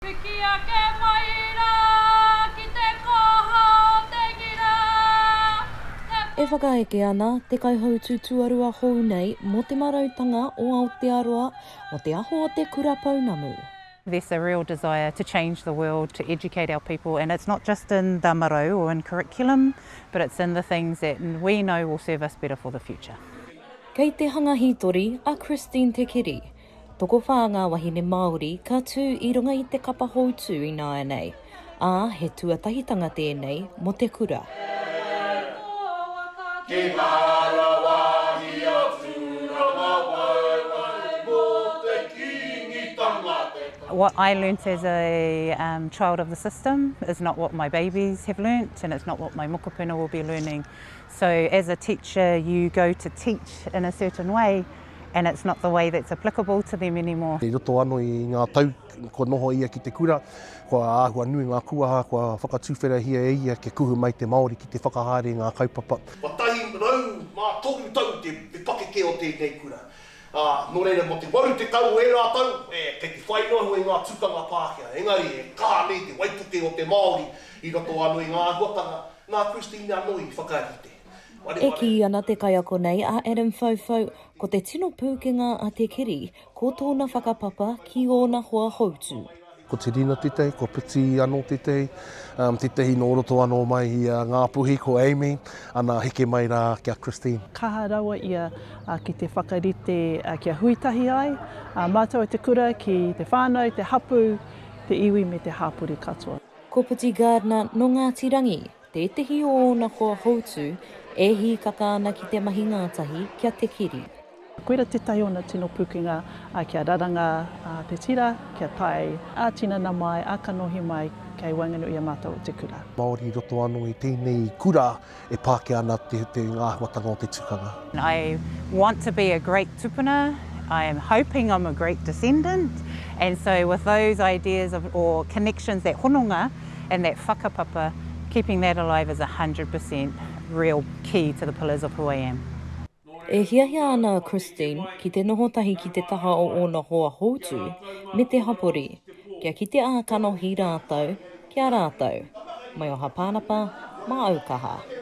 Piki ake mai ra ki te koha o te ngira, te. E whakaeke ana Te Kaihautū Tuarua hou nei mō Te Marautanga o Aotearoa mō Te Aho o Te Kura Pounamu. There's a real desire to change the world, to educate our people and it's not just in the marau or in curriculum but it's in the things that we know will serve us better for the future. Kei te hanga hītori a Christine Te Kiri. Tokowhā ngā wahine Māori ka tū i runga i te kapa houtū ināianei, ā, he tuatahitanga tēnei mō te kura. What I learnt as a child of the system is not what my babies have learnt and it's not what my mokopuna will be learning. So as a teacher you go to teach in a certain way and it's not the way that's applicable to them anymore. I roto ano i nga tau kua noho ia ki te kura, kua ahua nui nga kuaha kua whakatuwherahia e ia kia kuhu mai te Maori ki te whakahaere i nga kaupapa. Kua tahi rau ma toru tau te pakeke o tenei kura, a, no reira mo te waru tekau o era tau, e, kei te whai noa i nga tukanga Pakeha, engari e kaha nei te waipuke o te Maori i roto ano i nga ahuatanga, na Christine ano i whakarite. E kī ana te kaiako nei a Adam Whauwhau, ko te tino pūkenga a Te Kiri, ko tōna whakapapa ki ōna hoa houtu. Ko Te Rina tētahi, ko Piti anō tētahi, tētahi nō roto anō mai i a Ngāpuhi, ko Amy, ana heke mai rā ki a Christine. Kaha rawa ia ki te whakarite kia hui tahi ai a mātou te kura ki te whānau, te hapū, te iwi me te hāpori katoa. Ko Piti Gardner nō Ngāti Rangi. Tētehi o ōna koa houtu e hīkaka ana ki te mahi ngātahi kia te kiri. Koira tētahi o ōna tino pūkenga kia raranga te tira, kia tae ā-tinana mai, ā-kanohi mai kei waenganui i a mātou o te kura. Māori i roto anō i tēnei kura e pākia ana te āhuatanga o te tukanga. I want to be a great tupuna, I am hoping I'm a great descendant, and so with those ideas of or connections, that hononga and that whakapapa, keeping that alive is a hundred per cent real key to the pillars of who I am. E hiahia ana a Christine ki te noho tahi ki te taha o ōna hoa houtu me te hapori, kia kite ā kanohi rātou ki a rātou. Maioha Pānapa, Māaukaha.